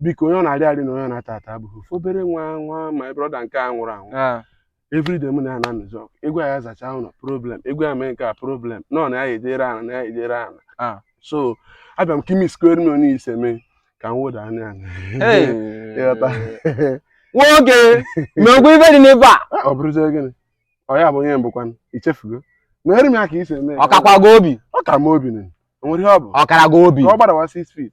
biko onye ọ na-arị arị na onye ọ na-ata ata abụghị ofu obere nwa my brother nke a nwụrụ anwụ Ah, everyday mụ na ya na-anụzi ọgụ ị gwa ya zachaa ụlọ problem ị gwa ya mee nke a problem nọ na ya ejere ana na ya ejere ana Ah. so abịa m ka i mesịkwara m onye isi mee ka m wụda anya anya hey. ị ghọta nwoke mekwa ife dị n'ebe a Ah, ọ bụrụzie gịnị ọ ya bụ onye mbụ kwanụ i chefugo meere m ya ka i si eme ọ kakwa gị obi ọ ka m obi nụ o nwere ihe ọ bụ ọ kara gị obi ka ọ gbadawa six feet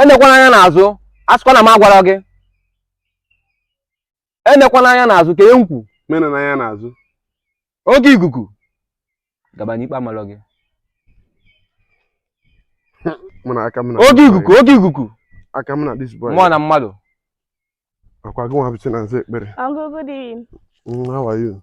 enekwana anya n'azụ asịkwa na m agwara gị enekwana anya n'azụ ka m kwu enena anya n'azụ oge ikuku gaba na ikpe amalọ gị mụ na aka m na oge ikuku oge ikuku aka m na this boy mmụọ na mmadụ ọ kwa gị nwa bụ chi na-aza ekpere uncle, good evening. Mm, how are you